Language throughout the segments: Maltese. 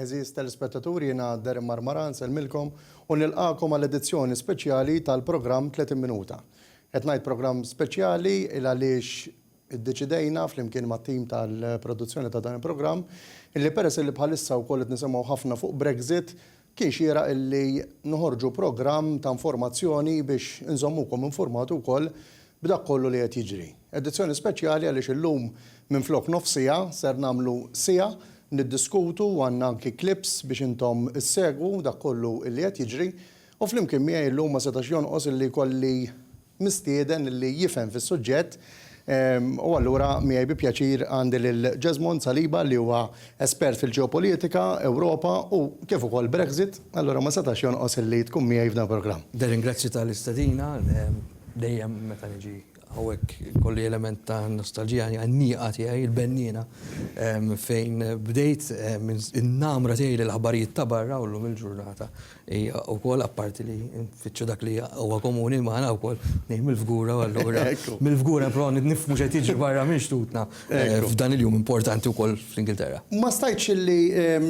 Eżiż telespettaturi jiena Darren Marmara nsellmilkom u nilqakom għal edizzjoni speċjali tal-programm 30 minuta. Qed ngħid programm speċjali il għaliex Iddeċidejna flimkien mat-tim tal-produzzjoni ta' dan il-programm illi peress illi bħalissa wkoll qed nisimgħu ħafna fuq Brexit, kien xieraq illi noħorġu programm ta' informazzjoni biex inżommukom infurmati wkoll b'dak kollu li qed jiġri. Edizzjoni speċjali għaliex illum minflok nofs siegħa ser nagħmlu siegħa niddiskutu u għandna anki clips biex intom issegwu dak kollu illi qed jiġri u flimkien miegħi llum ma setax jonqos illi jkolli mistieden li jifhem fis-suġġett u allura miegħi bi pjaċir għandi lil Jesmond Saliba li huwa espert fil-ġeopolitika, Ewropa u kif ukoll Brexit, allura ma setax jonqos illi tkun miegħi f'dan il-programm. Nirringrazzja tal-istedina, dejjem meta niġi hawnhekk ikolli element ta' nostalġija għan-nieqa tiegħi, il-benniena fejn bdejt, in-namra tiegħi lill-aħbarijiet ta' barra u llum il-ġurnata Hija wkoll apparti li nfittxu dak li huwa komuni magħna wkoll ngħid mill-fgura u allura mill-fgura nipprovaw nifhmu x'qed jiġri barra minn xtutna f'dan il-jum importanti wkoll fl-Ingilterra. Ma stajtx illi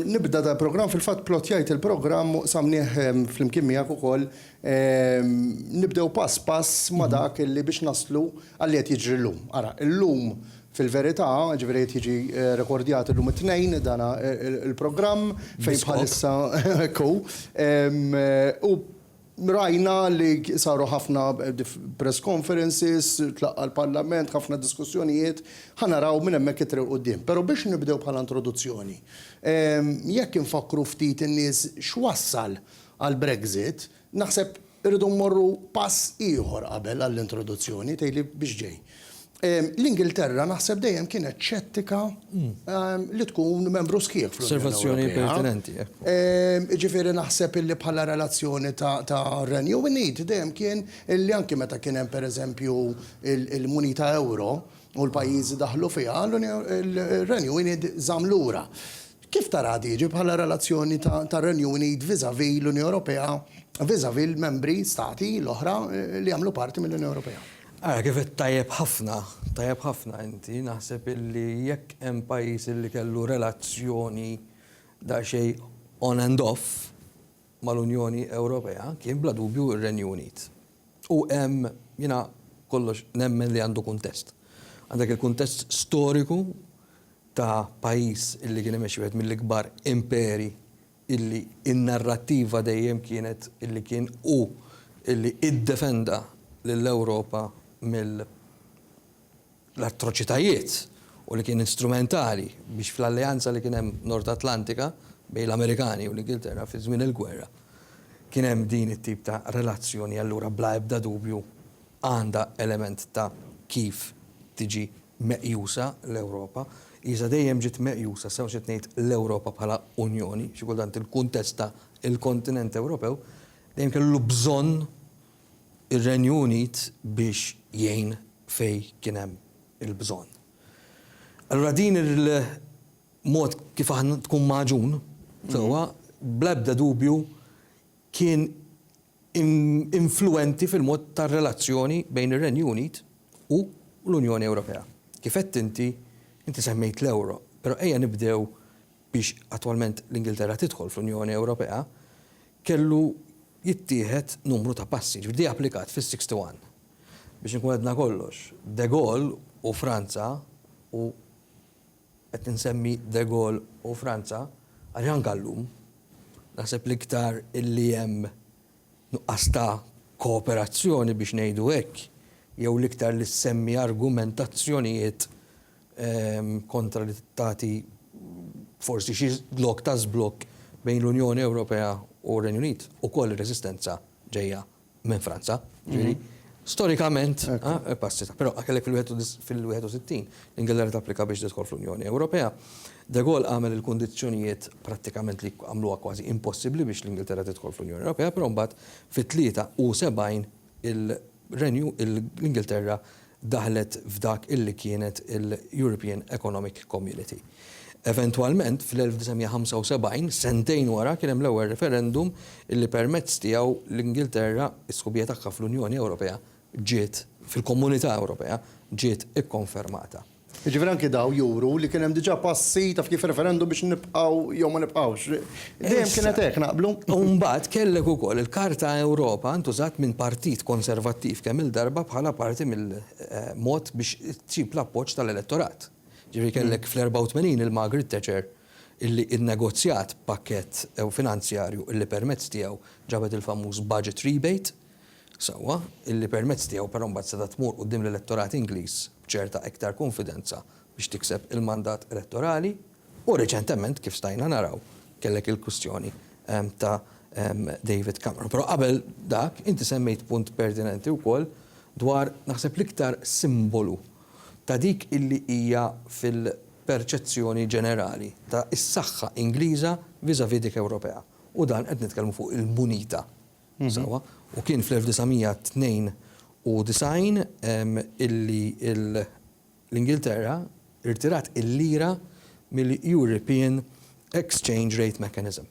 nibda dal-programm, fil-fatt plottjajt il-programm u qsamnih flimkien miegħek ukoll, nibdew pass pass ma' dak illi biex naslu għal li qed jiġri llum. Ara, illum Fil-verità, ġifieri qed jiġi rekordjat illum it-Tnejn dan il-programm fejn bħalissa hekk hu. U rajna li saru ħafna press conferences, tlaqqa' l-Parlament, ħafna diskussjonijiet, ħa naraw minn hemmhekk it-triq 'l quddiem. Però biex nibdew bħala introduzzjoni, jekk infakkru ftit in-nies x'wassal għall-Brexit, Naħseb irridu mmorru pass ieħor qabel għall-introduzzjoni, tgħidli biex ġej. L-Ingilterra naħseb dejjem kienet xettika li tkun membru sħiħ fl-Unjoni Ewropea. Osservazzjoni pertinenti, hekk. Jiġifieri naħseb illi bħala relazzjoni ta' Renju Unit dejjem kien illi anki meta kien hemm pereżempju l-munita ewro u l-pajjiżi daħlu fiha, ir-Renju Unit żamm lura. Kif taraha tiġi bħala relazzjoni tar-Renju Unit vis-à-vis l-Unjoni Ewropea, vis-à-vis l-membri, stati, l-oħra li jagħmlu parti mill-Unjoni Ewropea? Ara, kif għedt tajjeb ħafna, tajjeb ħafna inti, naħseb illi jekk hemm pajjiż illi kellu relazzjoni daqsxejn on and off mal-Unjoni Ewropea kien bla dubju r-Renju Unit. U hemm, jiena kollox nemmen li għandu kuntest. Għandek il-kuntest storiku, ta' pajjiż illi kien imexxi wieħed mill-ikbar imperi illi n-narrattiva dejjem kienet illi kien hu illi iddefenda lill-Ewropa mill l-atroċitajiet u li kien instrumentali biex fl-alleanza li kien hemm Nord Atlantika bejn l-Amerikani u l-Ingilterra fi żmien il-gwerra kien hemm din it-tip ta' relazzjoni allura bla ebda dubju għandha element ta' kif tiġi meqjusa l-Ewropa. Iżda dejjem ġiet meqjusa, sew x'qed ngħid, l-Ewropa bħala Unjoni, xi kultant il-kuntest ta' l-kontinent Ewropew, dejjem kellu bżonn ir-Renju Unit biex jgħin fejn kien hemm il-bżonn. Allura din il-mod kif aħna tkun magħġun sewwa, bla ebda dubju kien influwenti fil-mod tar-relazzjoni bejn ir-Renju Unit u l-Unjoni Ewropea. Kif għedt inti, inti semmejt l-euro, però ejja nibdew biex attwalment l-Ingilterra tidħol fl-Unjoni Ewropea, kellu jittieħed numru ta' passi, jiġifieri ġie applikat fis-61. Biex inkun għedna kollox, De Gaulle u Franza u. qed insemmi de Gaulle u Franza, għaliex anke llum naħseb l-iktar li hemm nuqqas ta' kooperazzjoni biex ngħidu hekk, jew l-iktar li ssemmi argumentazzjonijiet kontra li tagħti forsi xi lok ta' żblokk bejn l-Unjoni Ewropea u r-Renju Unit, ukoll ir-reżistenza ġejja minn Franza, ġifieri storikament passi ta' però kellek fil-61 l-Ingilterra tapplika biex tidħol fl-Unjoni Ewropea. De Gaulle għamel il-kundizzjonijiet prattikament li għamluha kważi impossibbli biex l-Ingilterra tidħol fl-Unjoni Ewropea, però mbagħad fit-73 il-Renju l-Ingilterra daħlet f'dak illi kienet il-European Economic Community. Eventwalment, fl-1975, sentejn wara, kien hemm l-ewwel referendum illi permezz tiegħu l-Ingilterra, is-sħubija tagħha fl-Unjoni Ewropea ġiet, fil-Komunità Ewropea, ġiet ikkonfermata. Jiġifieri anki dawn juru li kien hemm diġà passi, taf kif, referendum biex nibqgħu jew ma nibqgħux. Dejjem kienet hekk, naqblu? U mbagħad kellek ukoll il-Karta Ewropa ntużat minn Partit Konservattiv kemm-il darba bħala parti mill-mod biex issib l-appoġġ tal-elettorat. Jiġifieri kellek fl-84 lil Margaret Thatcher illi nnegozjat pakkett finanzjarju illi permezz tiegħu ġabet il-famuż budget rebate. sewwa, illi permezz tiegħu però mbagħad setgħet tmur quddiem l-elettorat Ingliż b'ċerta iktar kunfidenza biex tikseb il-mandat elettorali, u reċentement, kif stajna naraw, kellek il-kwistjoni ta' David Cameron. Però qabel dak, inti semmejt punt pertinenti wkoll dwar, naħseb, l-iktar simbolu ta' dik illi hija fil-perċezzjoni ġenerali ta' is-saħħa Ingliża vis-à-vis dik Ewropea, u dan qed nitkellmu fuq il-munita. sewwa, u kien fl-1992 illi l-Ingilterra rtirat il-lira mill-European Exchange Rate Mechanism.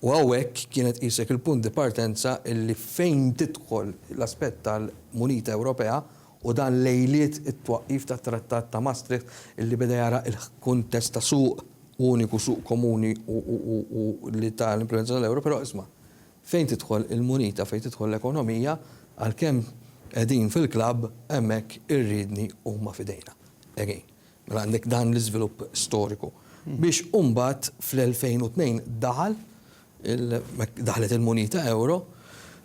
U hawnhekk kienet qisek il-punt di partenza illi fejn tidħol l-aspett tal-munita Ewropea u dan lejliet it-twaqqif tat-Trattat ta' Maastricht illi beda jara l-kuntest ta' suq uniku, suq komuni u li ta l-implimentazzjoni tal-euro, però isma', Fejn tidħol il-munita, fejn tidħol l-ekonomija, għalkemm qegħdin fil-klabb, hemmhekk ir-riedni huma f'idejna. Again. Mela għandek dan l-iżvilupp storiku. Biex imbagħad fl-2002 daħal, daħlet il-munita ewro,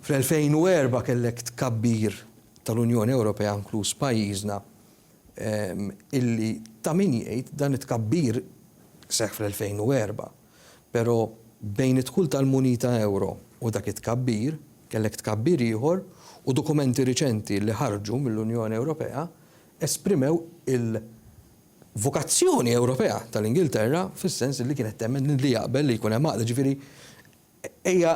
fl-2004 kellek tkabbir tal-Unjoni Ewropea inkluż pajjiżna illi ta' min jgħid dan it-tkabbir seħħ fl-2004. Però, bejn id-dħul tal-munita euro u dak it-tkabbir, kellek tkabbir ieħor u dokumenti riċenti li ħarġu mill-Unjoni Ewropea esprimew il-vokazzjoni Ewropea tal-Ingilterra fis-sens li kienet temmen li jaqbel li jkun hemm għaqda. Jiġifieri, ejja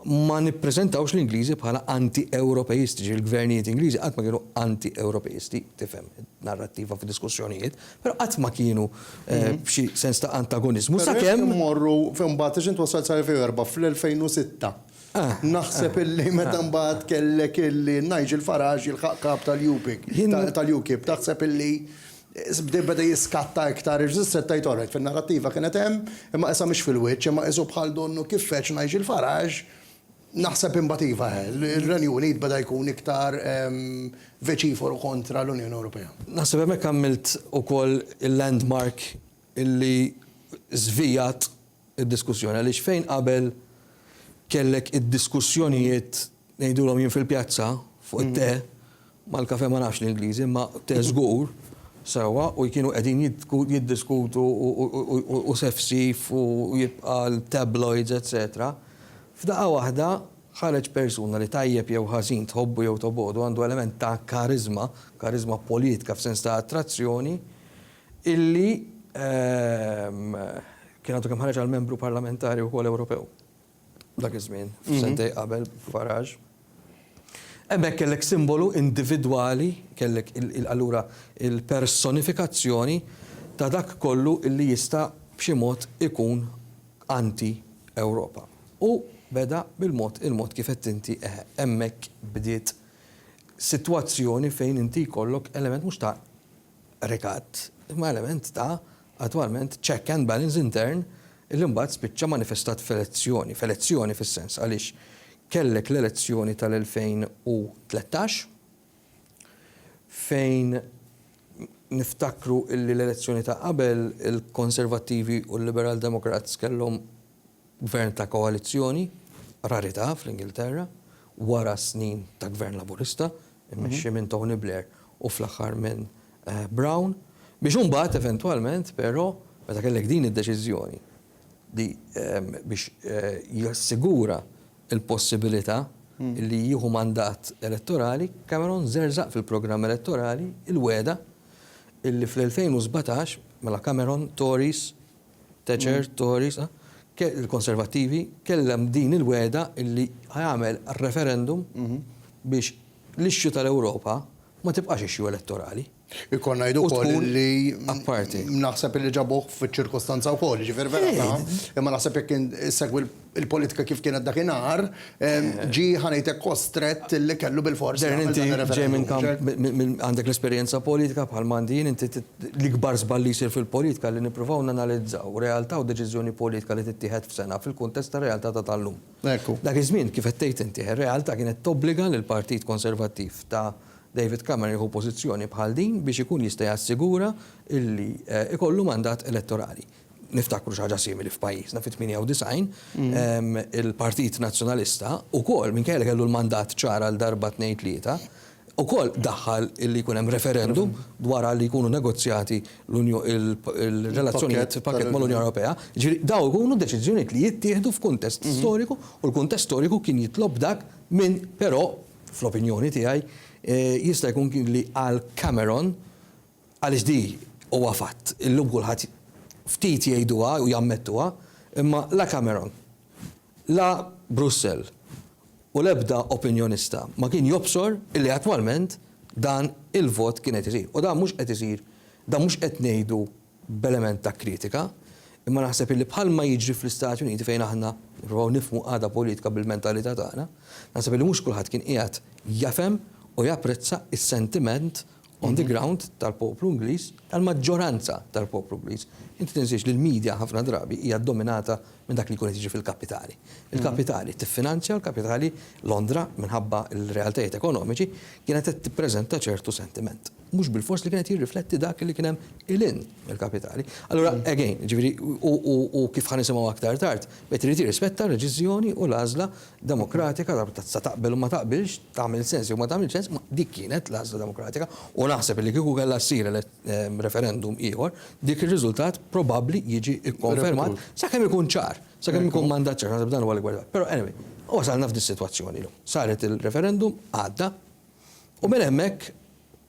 ma nippreżentawx l-Ingliżi bħala anti-Ewropejistiċi. Il-gvernijiet Ingliżi qatt ma kienu anti-Ewropejisti, tifhem id-narrattiva fid-diskussjonijiet. Però qatt ma kienu b'xi sens ta' antagoniżmu sakemm. Però jekk immorru imbagħad għax int wassalt sal-2004 fl-2006 naħseb illi meta mbagħad kellek illi Nigel Farage jilħaq kap tal-UKIP, tal-UKIP taħseb illi beda jiskatta iktar għax issa tgħid alright fin-narrattiva kienet hemm imma qisha mhix fil-wiċċ imma qisu bħal donnu kif feġġ Nigel Farage Naħseb imbagħad iva, ir-Renju Unit beda jkun iktar veċiforu kontra l-Unjoni Ewropea. Naħseb hemmhekk għamilt ukoll il-landmark illi żvijat id-diskussjoni għaliex fejn qabel kellek id-diskussjonijiet ngħidulhom jien fil-pjazza fuq it-te, Mal-kafè ma nafx l-Ingliżi imma te żgur, sewwa, u kienu qegħdin jiddiskutu u sefsif u jibqa' l-tabloids etsetera. F'daqqa waħda ħareġ persuna li tajjeb jew ħażin, tħobbu jew tobgħodu, għandu element ta' kariżma, kariżma politka f'sens ta' attrazzjoni, illi kien għadu kemm ħareġ għal Membru Parlamentari wkoll Ewropew. Dak iż-żmien, sentejn qabel Farage. Hemmhekk kellek simbolu individwali, kellek allura il-personifikazzjoni ta' dak kollu li jista' b'xi mod ikun anti-Ewropa. U beda bil-mod il-mod kif għedt inti, eħe, hemmhekk bdiet sitwazzjoni fejn inti jkollok element mhux ta' rikat, imma element ta', attwalment, check and balance intern li mbagħad spiċċa manifestat f'elezzjoni, f'elezzjoni fis-sens għaliex kellek l-elezzjoni tal-2013 fejn niftakru li l-elezzjoni ta' qabel il-Konservattivi u l-Liberal Democrats kellhom Gvern ta' koalizzjoni, rarità fl-Ingilterra, wara snin ta' Gvern Laburista, immexxi minn Tony Blair u fl-aħħar minn Brown, biex imbagħad eventwalment però, meta kellek din id-deċiżjoni li biex jassigura l-possibilità li jieħu mandat elettorali, Cameron żerżaq fil-programm elettorali l-wegħda li fl-2017, mela Cameron, Tories, Thatcher, Tories, il-Konservattivi, kellem din il-wegħda illi ħa jagħmel referendum biex l-issue tal-Ewropa ma tibqax issue elettorali. Ikoll ngħid ukoll li naħseb illi ġabuh fiċ-ċirkostanza wkoll, jiġifieri vera ta' imma naħseb jekk issegwi il-politika kif kienet dakinhar, ġie ħa ngħid hekk kostrett li kellu bilfors jagħmel dan ir-referendum. Darren, inti ġej minn kamp, għandek l-esperjenza politika bħal m'għandi jien, inti l-ikbar żball li jsir fil-politika li nippruvaw nanalizzaw realtà u deċiżjoni politika li tittieħed f'sena fil-kuntest tar-realtà ta' tal-lum. Dak iż-żmien, kif qed tgħid inti, ir-realtà kienet tobbliga lill-Partit Konservattiv ta' David Cameron jieħu pożizzjoni bħal din biex ikun jista' jassigura li jkollu mandat elettorali. Niftakru xi ħaġa simili f'pajjiżna fit-98, il-Partit Nazzjonalista wkoll minkejja li kellu l-mandat ċar għal darba tnejn tlieta, ukoll daħħal li jkun hemm referendum dwar li jkunu negozjati l-relazzjonijiet fil-pakkett mal-Unjoni Ewropea. Jiġifieri dawn ikunu deċiżjonijiet li jittieħdu f'kuntest storiku u l-kuntest storiku kien jitlob dak minn però, fl-opinjoni tiegħi, jista' jkun kien li għal Cameron Għaliex di huwa fatt, illum kulħadd ftit jgħiduha u jammettuha, imma la Cameron, la Brussell u l-ebda opinjonista ma kien jobsor illi attwalment dan il-vot kien qed isir. U dan mhux qed isir, dan mhux qed ngħidu b'element ta' kritika, imma naħseb illi bħalma jiġri fl-Istati Uniti fejn aħna nipprovaw nifhmu qagħda politika bil-mentalità tagħna, naħseb illi mhux kulħadd kien qiegħed jefhem u japprezza s-sentiment on the ground tal-poplu Ingliż, tal-maġġoranza tal-poplu Ingliż. Inti tinsiex li l-media ħafna drabi hija dominata minn dak li jkun qed jiġi fil-kapitali. Il-kapitali tiffinanzja, il-kapitali Londra minħabba l-realtajiet ekonomiċi kienet qed tippreżenta ċertu sentiment. Mhux bilfors li kien qed jirrifletti dak li kien hemm 'il hinn mill-kapitali. Allura, again, jiġifieri u kif ħa nisimgħu aktar tard, wieħed irid jirrispetta r-reċiżjoni u l-għażla demokratika ta' sa taqbel u ma taqbilx, tagħmel sens jew ma tagħmilx sens, ma dik kienet l-għażla demokratika u naħseb illi kieku kellha ssir referendum ieħor, dik ir-riżultat probabbli jiġi kkonfermat sakemm ikun ċar, sakemm ikun mandat ċar, naħseb dan huwa l-ikbar żball. Però anyway, wasalna f'dis-sitwazzjoni llum. Saret il-referendum, għadda, u minn hemmhekk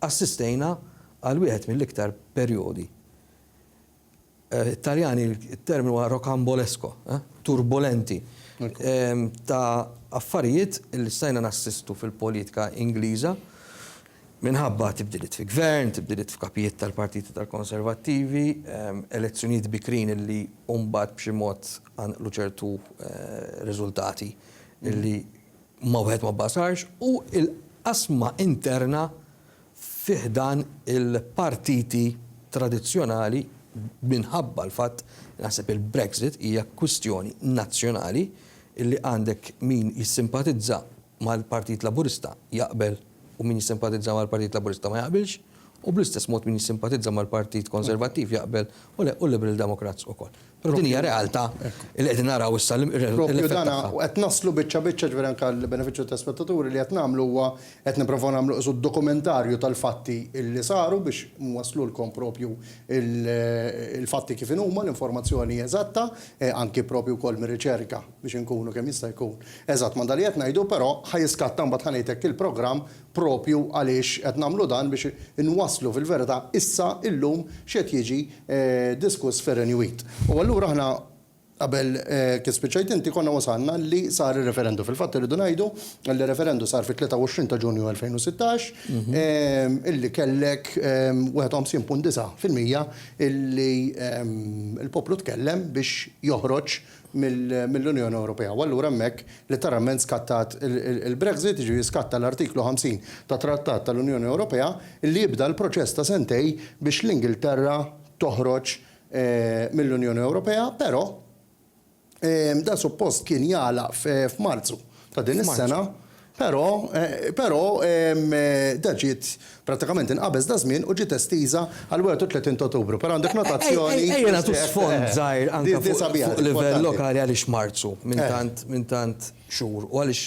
assistejna għal wieħed mill-iktar perjodi Taljani it-terminu huwa rocambolesco, turbulenti, ta' affarijiet li stajna nassistu fil-politika Ingliża minħabba tibdiliet fi gvern, tibdiliet f'kapijiet tal-partiti tal-Konservattivi, elezzjonijiet bikrin li mbagħad b'xi mod qanqlu ċertu riżultati li ma wieħed ma bbasarx u l-qasma interna fi ħdan il-partiti tradizzjonali minħabba l-fatt li naħseb il-Brexit hija kwistjoni nazzjonali li għandek min jissimpatizza mal-Partit Laburista jaqbel u min jissimpatizza mal-Partit Laburista ma jaqbilx u bl-istess mod min jissimpatizza mal-Partit Konservattiv jaqbel u le u l-Liberal Democrats ukoll. Però din hija realtà li qegħdin naraw issa l-effett tagħha. Propju dan, u qed naslu biċċa biċċa, ġifieri anke għall-benefiċċju tal-telespettaturi, li qed nagħmlu huwa qed nipprovaw nagħmlu qisu dokumentarju tal-fatti li saru biex nwasslulkom propju l-fatti kif inhuma, l-informazzjoni eżatta, anke propju wkoll mir-riċerka biex inkunu kemm jista' jkun eżatt ma' dak li qed ngħidu, però ħa jiskatta mbagħad ħa ngħidlek il-programm proprju għaliex qed nagħmlu dan biex inwasslu fil-verità issa, illum, x'qed jiġi diskuss fir-Renju Unit. U allura aħna qabel, kif spiċċajt inti, konna wasalna li sar ir-referendu. Fil-fatt irridu ngħidu li r-referendu sar fit-23 ta' Ġunju 2016, illi kellek 51.9 fil-mija illi l-poplu tkellem biex joħroġ, mill-Unjoni Ewropea u allura hemmhekk letteralment skattat il-Brexit, jiġifieri jiskatta l-Artiklu 50 tat-Trattat tal-Unjoni Ewropea li jibda l-proċess ta' sentejn biex l-Ingilterra toħroġ mill-Unjoni Ewropea, però dan suppost kien jagħlaq f'Marzu ta' din is-sena. Però, però, da ġiet prattikament inqabeż daż-żmien u ġiet estiża għall-31 ta' Ottubru. Però għandek notazzjoni li. Ejja nagħtu sfond żgħir anke fuq livell lokali għaliex Marzu minn tant, minn tant xhur u għaliex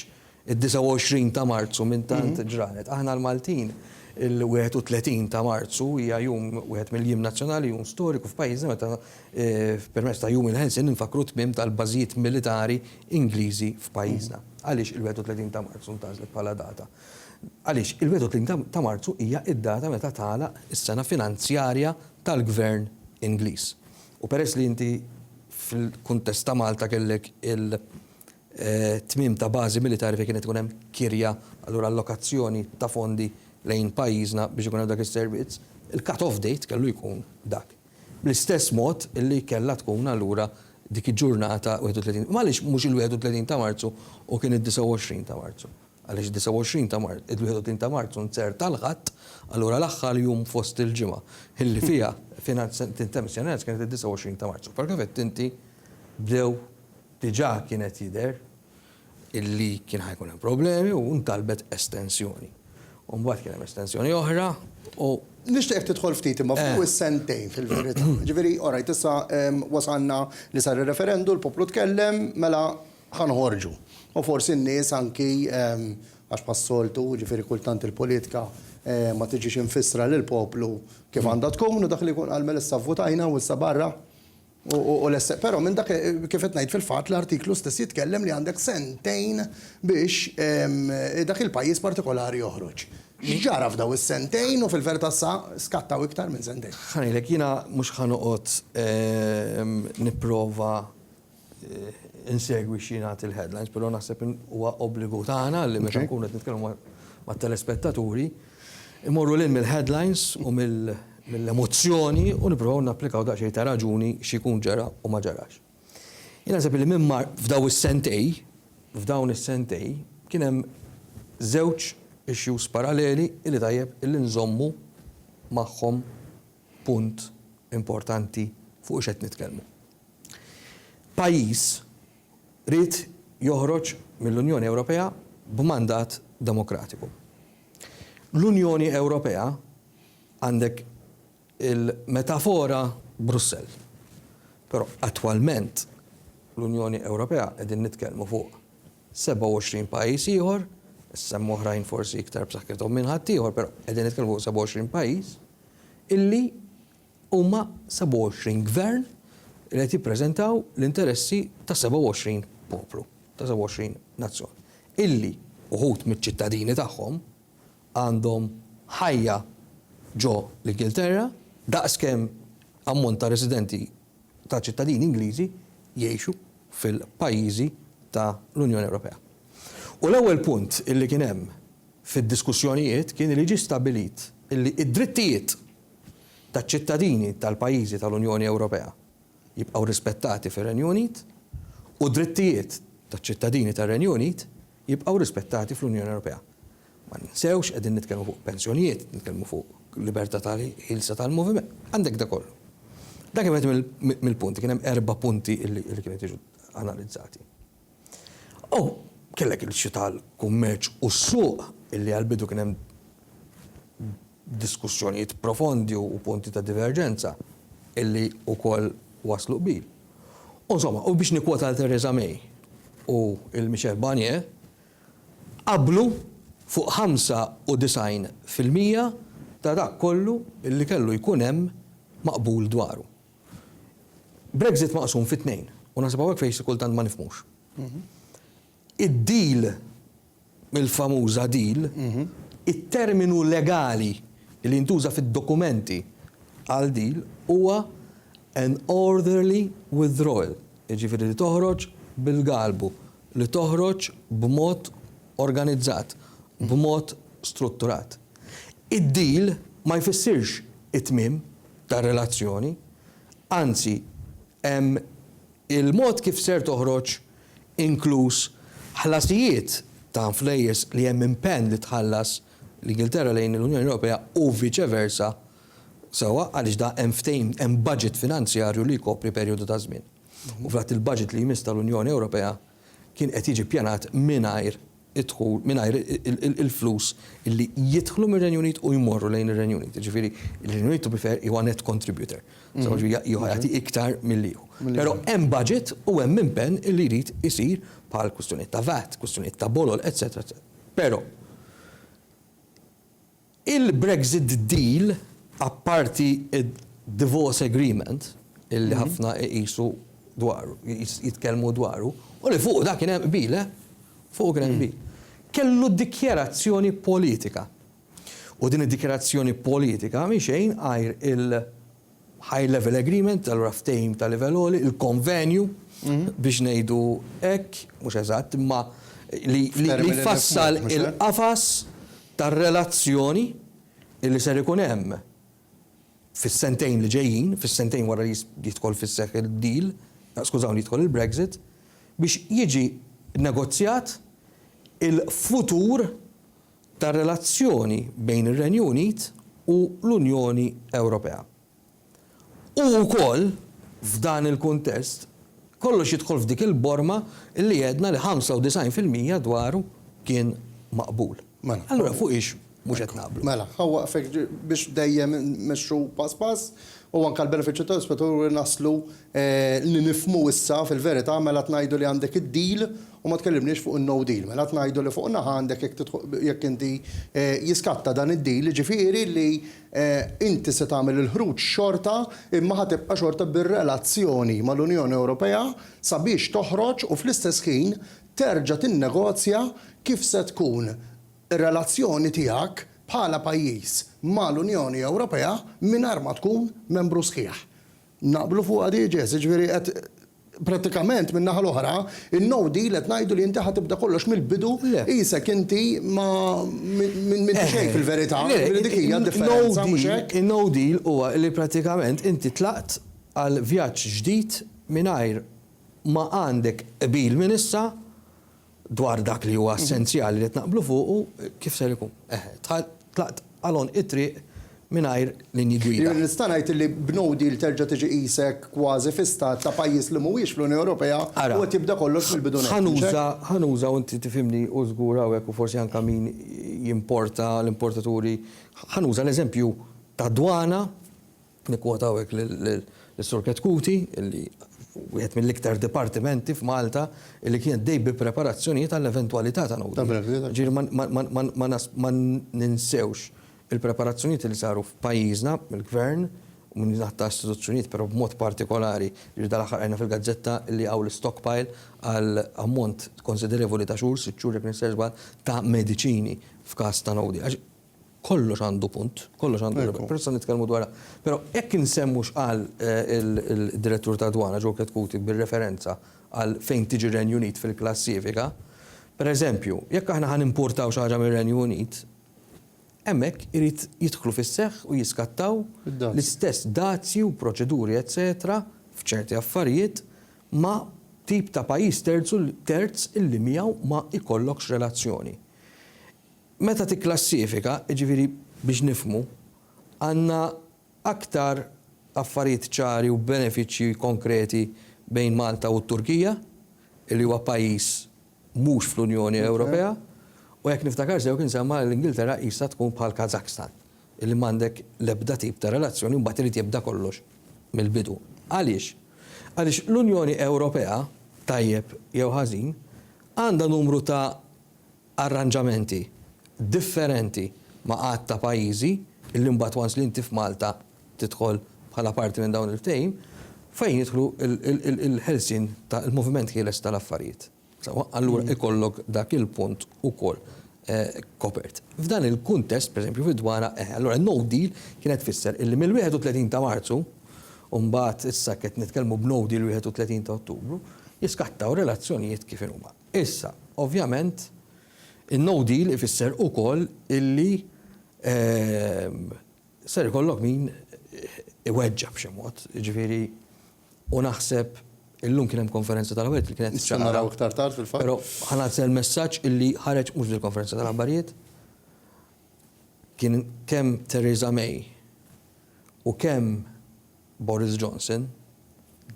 id-29 ta' Marzu minn tant ġranet. Aħna l-Maltin il-31 ta' Marzu hija jum, wieħed mill-jiem nazzjonali, jum storiku f'pajjiżna meta Permezz ta' Jum il-Ħelsien infakkru t-tmiem tal-bażijiet militari Ingliżi f'pajjiżna. Għaliex il-31 ta' Marzu ntgħażlet bħala data? Għaliex il-31 ta' Marzu hija d-data meta tagħlaq is-sena finanzjarja tal-Gvern Ingliż. U peress li inti fil-kuntest ta' Malta kellek il-tmiem ta' bażi militari fejn kien qed ikun hemm kirja, allura allokazzjoni ta' fondi lejn pajjiżna biex ikun hemm dak is-servizz, il-cut-off date kellu jkun dak. Bl-istess mod li kellha tkun allura dik il-ġurnata 31 m'għaliex mhux il-31 ta' Marzu u kien id-29 ta' Marzu? Għaliex id-29 ta' Marzu, il-31 ta' Marzu nzerta l-Ħadd, allura l-aħħar jum fost il-ġimgħa illi fiha tintemm is-sena nefs kienet id-29 ta' Marzu. Però kif għedt inti bdew diġà kien qed jidher. illi kien ħa jkun hemm problemi u ntalbet estensjoni. U mbagħad kien hemm estensjoni oħra u Nixtieqek tidħol ftit imma fuq is-sentejn fil-verità. Ġifieri, all right, issa wasalna li sar ir-referendu, l-poplu tkellem, mela ħa noħorġu. U forsi n-nies anki, għax bħas-soltu, ġifieri kultant il-politika ma tiġix imfissra lill-poplu kif għandha tkun u dak li jkun qal mela issa vvutajna u issa barra. Però minn dak, kif qed ngħid, fil-fatt l-artiklu stess jitkellem li għandek sentejn biex dak il-pajjiż partikolari joħroġ. X'ġara f'dawn is-sentejn u fil-verità sa skattaw iktar minn sentejn? Ħa ngħidlek, jiena mhux ħa noqgħod nipprova insegwi x'jingħad il-headlines, però naħseb huwa obbligu tagħna li meta nkunu qed nitkellmu mat-telespettaturi, immorru lil mill-headlines u mill-. mill-emozzjoni u nipprovaw napplikaw daqsxejn ta' raġuni x'ikun ġara u ma ġarax. Jien naħseb illi minn mar f'daw is-sentej, f'dawn is-sentej, kien hemm żewġ issues paralleli illi tajjeb illi nżommu magħhom punt importanti fuq x'qed nitkellmu. Pajjiż ried joħroġ mill-Unjoni Ewropea b'mandat demokratiku. L-Unjoni Ewropea, Għandek il-metafora Brussell. Però attwalment l-Unjoni Ewropea qegħdin nitkellmu fuq 27 pajjiż ieħor, issa hemm oħrajn forsi iktar b'saħħithom minn ħaddieħor, però qegħdin nitkellmu fuq 27 pajjiż illi huma 27 gvern li qed jippreżentaw l-interessi ta' 27 poplu, ta' 27 nazzjon. Illi uħud miċ-ċittadini tagħhom għandhom ħajja ġo l-Ingilterra daqs kemm ammont ta' residenti ta' ċittadini Ingliżi jgħixu fil-pajjiżi ta' l-Unjoni Ewropea. U l-ewwel punt illi kien hemm fid-diskussjonijiet kien li ġie stabbilit illi d-drittijiet taċ-ċittadini tal-pajjiżi ta' l-Unjoni Ewropea jibqgħu rispettati fir-Renju Unit u d-drittijiet taċ-ċittadini tar-Renju Unit jibqgħu rispettati fl-Unjoni Ewropea. Ma ninsewx, qegħdin nitkellmu fuq pensjonijiet, nitkellmu fuq libertà ta' ħielsa tal-moviment. Għandek dak kollu. Dak kien wieħed mill-punti, kien hemm erba' punti li kienu qed jiġu analizzati. U kellek il-issue tal-kummerċ u s-suq illi għall-bidu kien hemm diskussjonijiet profondi u punti ta' diverġenza illi wkoll wasslu qbil. U insomma, u biex nikkwota lil Theresa May u lil Michel Barnier, Qablu fuq 95 fil-mija ta' dak kollu li kellu jkun hemm maqbul dwaru. Brexit maqsum fi tnejn, u naħseb hawnhekk fejn xi kultant ma nifhmux. Id-deal, il-famuża deal, it-terminu legali li jintuża fid-dokumenti għal deal huwa an orderly withdrawal, jiġifieri li toħroġ bil-galbu, li toħroġ b'mod organizzat, b'mod strutturat. Id-deal ma jfissirx it-tmiem tar-relazzjoni, anzi, hemm il-mod kif ser toħroġ inkluż ħlasijiet ta' flejjes li hemm impenn li tħallas l-Ingilterra lejn l-Unjoni Ewropea u viċe versa, sewwa, għaliex da hemm ftehim, hemm budget finanzjarju li jkopri perjodu ta' żmien. u fil-fatt il-budget li jmiss tal-Unjoni Ewropea kien qed jiġi ppjanat mingħajr id-dħul, mingħajr il-flus li jidħlu mir-Renju Unit u jmorru lejn ir-Renju Unit. Jiġifieri r-Renju Unit, to be fair, huwa net contributor. So jiġifieri hu jagħti iktar milli hu. Però hemm budget u hemm impenn li jrid isir bħal kwistjonijiet ta' VAT, kwistjonijiet ta' bolol, etc. Però Il-Brexit Deal, apparti d-Divorce Agreement, illi ħafna iqisu dwaru, jitkellmu dwaru, u li fuqu dak kien hemm qbil, eh, fuqu kien hemm qbil, kellu dikjarazzjoni politika. U din id-dikjarazzjoni politika mhi xejn għajr il-, High level agreement, allura ftehim ta' livell għoli, il-konvenju biex ngħidu hekk, mhux eżatt, imma li jfassal il-qafas tar-relazzjoni li ser ikun hemm fis-sentejn li ġejjin, fis-sentejn wara li jidħol fis-seħħ id-deal, skużawni jidħol il-Brexit, biex jiġi negozjat il-futur tar-relazzjoni bejn ir-Renju Unit u l-Unjoni Ewropea. U wkoll, f'dan il-kuntest, kollox jidħol f'dik il-borma li għedna li 95 fil-mija dwaru kien maqbul. Mela. Allura fuq hiex mhux qed naqblu? Mela, ħa waqfek biex dejjem immexxu pass pass u anke għall-benefiċċju tal-ispettaturi naslu li nifhmu issa fil-verità mela qed ngħidu li għandek id-deal U ma tkellimniex fuq in-no deal. Mela qed ngħidu li fuq naħa għandek jekk tidħol, jekk inti, jiskatta dan id-deal, jiġifieri li inti se tagħmel il-ħruġ xorta imma ħa tibqa' xorta bir-relazzjoni mal-Unjoni Ewropea sabiex toħroġ u fl-istess ħin terġa' tinnegozja kif se tkun ir-relazzjoni tiegħek bħala pajjiż mal-Unjoni Ewropea mingħajr ma tkun membru sħiħ. Naqblu fuqha di, Jess? Jiġifieri qed prattikament min-naħa l-oħra, in-no deal qed ngħidu li inti ħa tibda kollox mill-bidu qisek inti ma m'inti xejn fil-verità, jiġifieri dik hija d-differenza, mhux hekk? In-no deal huwa li prattikament inti tlaqt għal vjaġġ ġdid mingħajr ma għandek qbil minn issa dwar dak li huwa essenzjali li qed naqblu fuqu, kif ser ikun? Eħe, tlaqt għal għonq it-triq mingħajr linji gwida. Jiena nista' ngħid li b'no deal terġa' tiġi qisek kważi fi stat ta' pajjiż li mhuwiex fl-Unjoni Ewropea u qed jibda kollox mill-bidu nett, mhux hekk? Ara, ħa nuża, u inti tifhimni, u żgur hawnhekk u forsi anke min jimporta, l-importaturi, ħa nuża l-eżempju tad-dwana, Nikkwota hawnhekk lis-Sur Chetcuti li wieħed mill-iktar dipartimenti f'Malta li kien għaddej bi preparazzjonijiet għall-eventwalità ta' no deal. Jiġifieri ma ninsewx il-preparazzjonijiet li saru f'pajjiżna mill-Gvern u minn naħa ta' istituzzjonijiet però b'mod partikolari, jiġifieri dal-aħħar qrajna fil-gazzetta li hawn l-istockpile għal ammont konsiderevoli ta' xhur, sitt xhur jekk m'insejx żball, ta' mediċini f'każ ta' no deal. Kollox għandu punt, kollox għandu raġun. Però se nitkellmu dwarha. Però hekk insemmu x'qal il-Direttur tad-Dwana Joe Chetcuti bir-referenza għal fejn tiġi r-Renju Unit fil-klassifika. Pereżempju, jekk aħna ħa nimpurtaw xi ħaġa mir-Renju Unit, hemmhekk irid jidħlu fis-seħħ u jiskattaw l-istess dazji u proċeduri eċċetera f'ċerti affarijiet ma' tip ta' pajjiż terz illi miegħu ma jkollokx relazzjoni. Meta tikklassifika, jiġifieri biex nifhmu, għandna aktar affarijiet ċari u benefiċċji konkreti bejn Malta u t-Turkija, li huwa pajjiż mhux fl-Unjoni Ewropea, u jekk niftakar sew kien semma l-Ingilterra qisha tkun bħal Kazakstan, li m'għandek l-ebda tip ta' relazzjoni u mbagħad irid jibda kollox mill-bidu. Għaliex? Għaliex l-Unjoni Ewropea, tajjeb jew ħażin, għandha numru ta' arranġamenti differenti ma' għadd ta' pajjiżi, illi mbagħad once li inti f'Malta tidħol bħala parti minn dawn il-ftehim, fejn jidħlu l-ħelsien ta' l-moviment ħieles ta' l-affarijiet. Sewwa, allura ikollok dak il-punt ukoll kopert. F'dan il-kuntest, pereżempju fid-dwana, eħe, allura no deal kienet tfisser illi mill-31 ta' Marzu, u mbagħad issa qed nitkellmu b'no deal 31 ta' Ottubru, jiskattaw relazzjonijiet kif inhuma. Issa, ovvjament, in-no deal ifisser ukoll illi ser ikollok min iweġġa' b'xi mod, jiġifieri u naħseb illum kien hemm konferenza tal-aħbarijiet li kienet Nistgħu naraw iktar tard fil-fatt. Però ħa ngħaddi għall-messaġġ illi ħareġ mhux fil-konferenza tal-aħbarijiet. Kien kemm Theresa May u kemm Boris Johnson,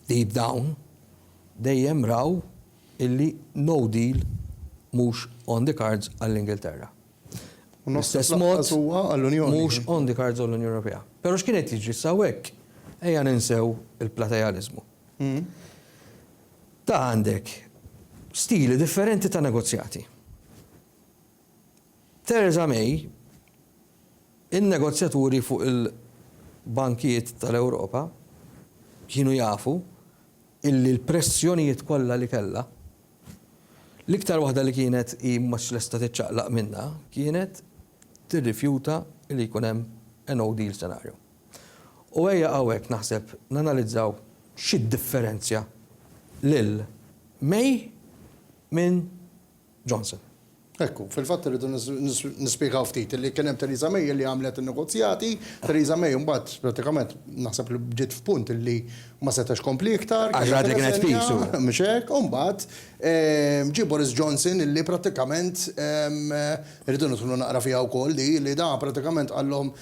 deep down, dejjem raw illi no deal mhux on the cards għall-Ingilterra. Bl-istess mod, mhux on the cards għall-Unjoni Ewropea. Pero x'kien qed jiġri issa hawnhekk? Ejja ninsew il-platealiżmu. Ta' għandek stili differenti ta' negozjati. Theresa May, in-negozjaturi fuq il-bankijiet tal-Ewropa kienu jafu illi l-pressjonijiet kollha li kellha, l-iktar waħda li kienet hi mhux lesta tiċċaqlaq minnha kienet tirrifjuta li jkun hemm a no deal scenario. U ejja hawnhekk naħseb nanalizzaw xi ddifferenzja lil May minn Johnson. Ekku, fil-fatt irridu nispjegaw ftit illi kien hemm Theresa May illi għamlet in-negozjati, Theresa May imbagħad prattikament naħseb li ġiet f'punt illi ma setgħetx tkompli iktar. Għax rat li kienet pisu. Mhux hekk, u mbagħad ġie Boris Johnson illi prattikament irridu nidħlu naqra fiha wkoll di, li da prattikament qallhom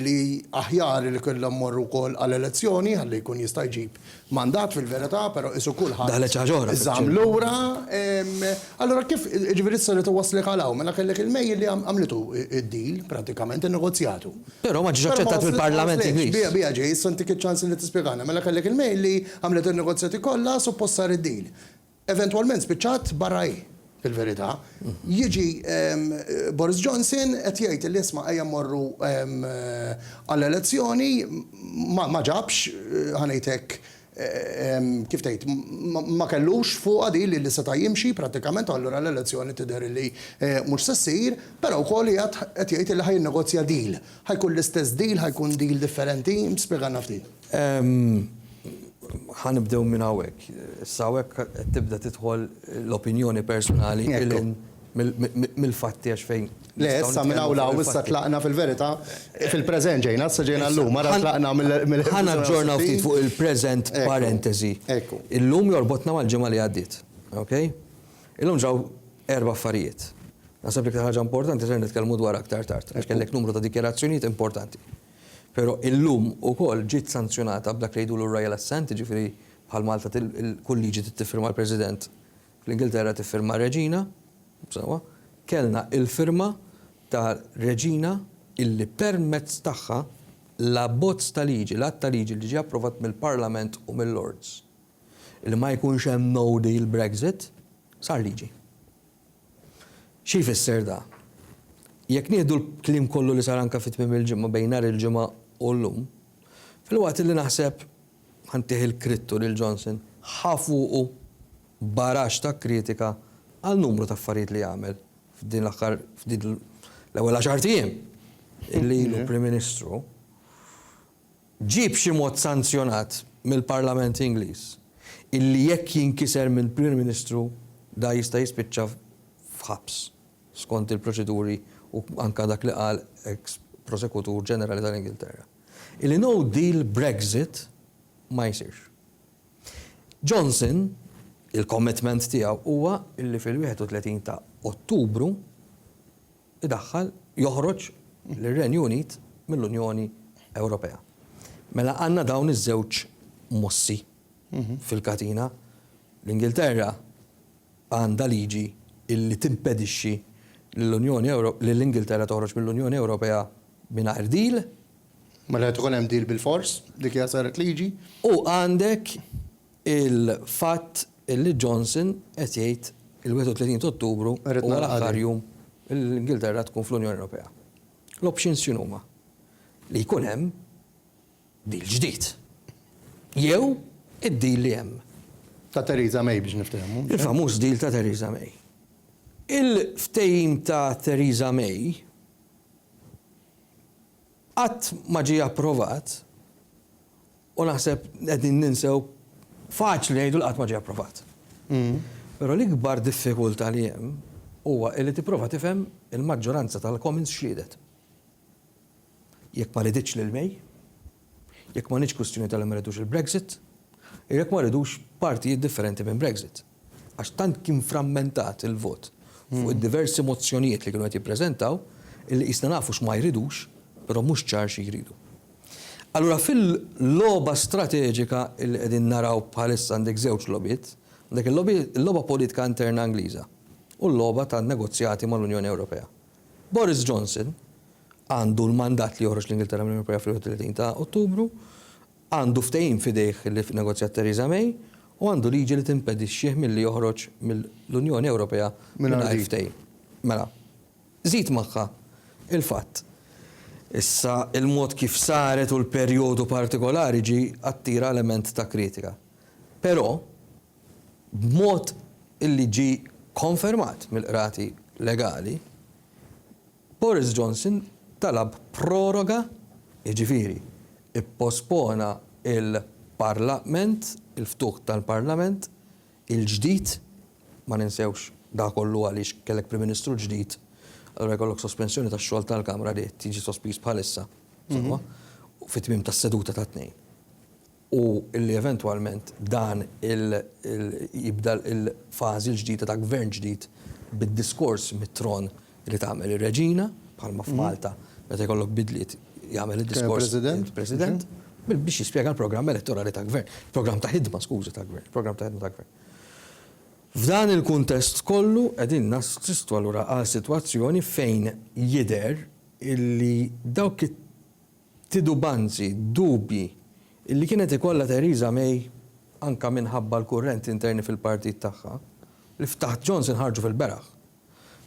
li aħjar li kellhom imorru wkoll għal elezzjoni ħalli jkun jista' jġib Mandat fil-verità, però qisu kulħadd. Daħlet xi ħaġa oħra fiċ-ċirku. Żamm lura. Allura kif, jiġifieri issa rrid iwasslek għal hawn, mela kellek il-May li għamlitu d-deal pratikament, in-negozjatu. Però ma ġiex aċċettat mill-Parlament Ingliż. Biha, biha ġej, issa ntik iċ-ċans li tispjegana. Mela kellek il-May li għamlet in-negozjati kollha, suppost sar id-deal. Eventwalment spiċċat barra hi, fil-verità. Jiġi Boris Johnson qed jgħid li isma' ejja mmorru għall-elezzjoni, ma ġabx, ħa ngħid hekk, kif tgħid, ma kellux fuqha din li seta' jimxi prattikament u allura l-elezzjoni tidher li mhux se ssir, però wkoll qiegħed jgħid li ħa jinnegozja deal. Ħa jkun l-istess deal, ħa jkun deal differenti? Spjegalna ftit. Ħa nibdew minn hawnhekk. Issa hawnhekk qed tibda tidħol l-opinjoni personali lil hinn mill-fatti għax fejn. Le, issa minn hawn 'l hawn issa tlaqna fil-verità fil-preżent ġejna, issa ġejna llum, ara tlaqna mill. Ħa naġġorna ftit fuq il-preżent parentesi. Illum jorbotna mal-ġimgħa li għaddiet. Okay? Illum ġraw erba' affarijiet. Naħseb l-iktar ħaġa importanti ser nitkellmu dwarha aktar tard għax kellek numru ta' dikjarazzjonijiet importanti. Però illum ukoll ġiet sanzjonata b'dak li jgħidulu r-Royal Assent, jiġifieri bħal Malta kull liġi trid tiffirma l-President, fl-Ingilterra tiffirmha r-Reġina, sewwa, kellna l-firma ta' Reġina illi permezz tagħha l-abbozz ta' liġi, l-att ta' liġi li ġie approvat mill-Parlament u mil-Lords, li ma jkunx hemm no deal Brexit, sar liġi. Xi jfisser da? Jekk nieħdu l-kliem kollu li sar anke fi tmiem il-ġimgħa bejn nhar il-Ġimgħa u llum, filwaqt li naħseb, ħa ntih il-krittu lil Johnson, ħa fuqu baraxx ta' kritika għal numru ta' affarijiet li għamel f'din l-aħħar, f'din l-ewwel għaxart ijiem li ilu Prim Ministru, ġie b'xi mod sanzjonat mill-Parlament Ingliż illi jekk jinkiser mill-Prim Ministru dan jista' jispiċċa f'ħabs skont il-proċeduri u anke dak li qal eks Prosekutur Ġenerali tal-Ingilterra illi no deal Brexit ma jsirx. Johnson, il-commitment tiegħu huwa illi fil-31 ta' Ottubru, idaħħal, joħroġ, lir-Renju Unit mill-Unjoni Ewropea. Mela għandna dawn iż-żewġ mossi fil-katina. L-Ingilterra għandha liġi li timpedixxi lill-Unjoni Ewro-, lill-Ingilterra toħroġ mill-Unjoni Ewropea mingħajr deal. Mela qed ikun hemm deal bilfors, dik hija saret liġi. U għandek Il-fatt li Johnson qed jgħid il-31 ta' Ottubru huwa l-aħħar jum li l-Ingilterra tkun fl-Unjoni Ewropea. L-options x'inhuma? Li jkun hemm deal ġdid. Jew id-deal li hemm. Ta' Theresa May biex niftehmu. Il-famuż deal ta' Theresa May. Il-ftehim ta' Theresa May qatt ma ġie approvat U naħseb qegħdin ninsew, faċli ngħidu li qatt ma ġie approvat. Però l-ikbar diffikultà li hemm huwa li tipprova tifhem il-maġġoranza tal-Commons x'riedet. Jekk ma riditx lil May, jekk ma kinitx kwistjoni ta' li ma ridux il-Brexit, jew jekk ma ridux partijiet differenti minn Brexit. għax tant kien frammentat il-vot fuq id-diversi mozzjonijiet li kienu qed jippreżentaw illi qisna nafu x'ma jridux, però mhux ċar xi jridu. Allura fil-logħba strateġika illi qegħdin naraw bħalissa għandek żewġ logħbiet, għandek il-logħba politika interna Ingliża u l-logħba tan-negozjati mal-Unjoni Ewropea. Boris Johnson għandu l-mandat li joħroġ lill-Ingilterra mill-Unjoni Ewropea fl-31 ta' Ottubru, Għandu ftehim f'idejh li negozjat Theresa May u għandu liġi li timpedixxih milli joħroġ mill-Unjoni Ewropea mingħajr ftehim. Mela, żid magħha l-fatt issa il-mod kif saret u l-perjodu partikolari ġie attira element ta' kritika. Però, b'mod illi ġie konfermat mill-qrati legali, Boris Johnson talab proroga, jiġifieri ppospona l-parlament, il-ftuħ tal-parlament il-ġdid, ma ninsewx dak kollu għaliex kellek Prim Ministru ġdid, allura jkollok sospensjoni tax-xogħol tal-Kamra li qed jiġi sospiż bħalissa, sewwa, fit-tmiem tas-seduta tat-Tnejn. u li eventwalment dan il jibda l-fażi l-ġdida ta' gvern ġdid bid-diskors mit-tron li tagħmel ir-Reġina, bħalma f'Malta meta jkollok bidliet jagħmel id-diskors il-President, biex jispjega l-programm elettorali ta' gvern, programm ta' ħidma skużi ta' gvern, programm ta' ħidma ta' gvern. F'dan il-kuntest kollu qegħdin nassistu allura għal sitwazzjoni fejn jidher illi dawk titubanzi, dubji, li kienet ikollha Theresa May anke minħabba l-kurrenti interni fil-partit tagħha, li f'taħt Johnson ħarġu fil-beraħ.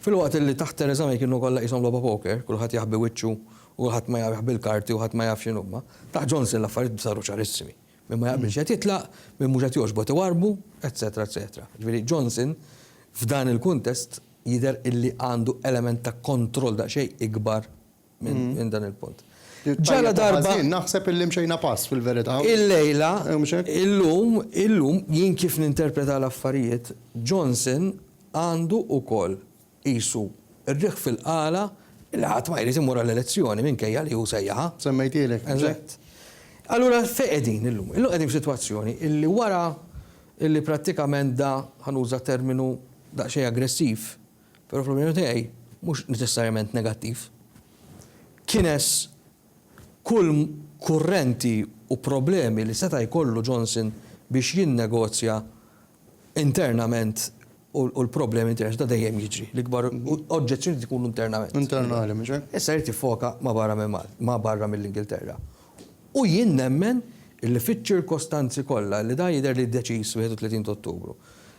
Filwaqt li taħt Theresa May kienu kollha qishom logħba poker, kulħadd jaħbi wiċċu u kulħadd ma jaf jaħbi l-karti u ħadd ma jaf x'inhuma, taħt Johnson l-affarijiet saru ċarissimi. Min ma jaqbilx qed jitlaq, min mhux qed jogħġbu qed iwarrbu, etcetera etcetera. Jiġifieri Johnson f'dan il-kuntest jidher illi għandu element ta' kontroll daqsxejn ikbar minn dan il-punt. Ġala darba. Naħseb illi mxejna pass fil-verità. Illejla, illum, illum, jien kif ninterpreta l-affarijiet, Johnson għandu ukoll qisu r-riħ fil-qala li ħadd ma jrid imur għall-elezzjoni minkejja li hu sejjaħha. Semmejtielek. Eżatt. Allura fejn qegħdin illum? Illum qegħdin f'sitwazzjoni illi wara illi prattikament da ħanuża terminu daqsxejn aggressiv Però fl-opinjoni tiegħi mhux neċessarjament negattiv. Kines kull kurrenti u problemi li seta' jkollu Johnson biex jinnegozja internament u l-problemi interni seta' dejjem jiġri. L-ikbar oġġezzjoni tkun internament. Internali, mhux hekk? Issa jrid jiffoka ma' barra minn Malta, ma' barra mill-Ingilterra. U jien nemmen illi fiċ-ċirkostanzi kollha, illi dan jidher li deċiż 31 ta' Ottubru,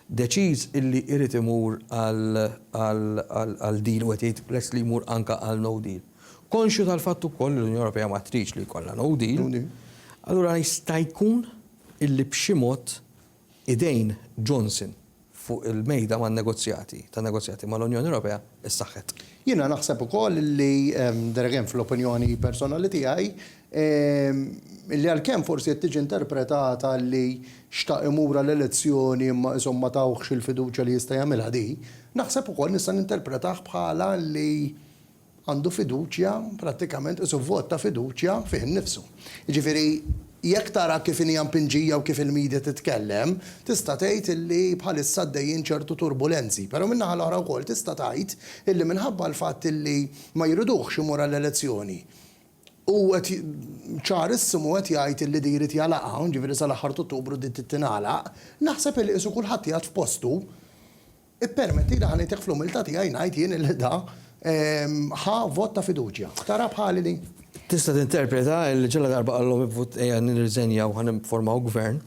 deċiż illi irid imur għal deal u qed jgħid lest li jmur anke għal no deal, konxju tal-fatt ukoll li l-Unjoni Ewropea ma tridx li jkollha no deal, allura jista' jkun illi b'xi mod idejn Johnson fuq il-mejda man-negozjati tan-negozjati mal-Unjoni Ewropea ssaħħet. Jiena naħseb ukoll li, there again fl-opinjoni personali tiegħi, li għalkemm forsi qed tiġi interpretata li xtaq imur għal elezzjoni imma qishom ma tawhx il-fiduċja li jista' jagħmilha di, naħseb ukoll nista' ninterpretah bħala li, għandu fiduċja, prattikament qisu vot ta' fiduċja fih innifsu. Jiġifieri jekk tara kif inhi mpinġija u kif il-media titkellem, tista' tgħid illi bħalissa għaddejjin ċertu turbulenzi. Però min-naħa l-oħra wkoll tista' tgħid illi minħabba l-fatt illi ma jriduhx imur għall-elezzjoni u qed ċarissimu qed jgħid illi di jrid jagħlaqha, jiġifieri sal-aħħar t'Ottubru di trid tingħalaq, naħseb illi qisu kulħadd qiegħed f'postu. Ippermettili ħa ngħidlek fl-umiltà tiegħi ngħid jien illi da ħa vot ta' fiduċja. Tara bħali din? Tista' tinterpreta illi ġaladarba qallhom ivvut ejja nirriżenja u ħa nifformaw gvern,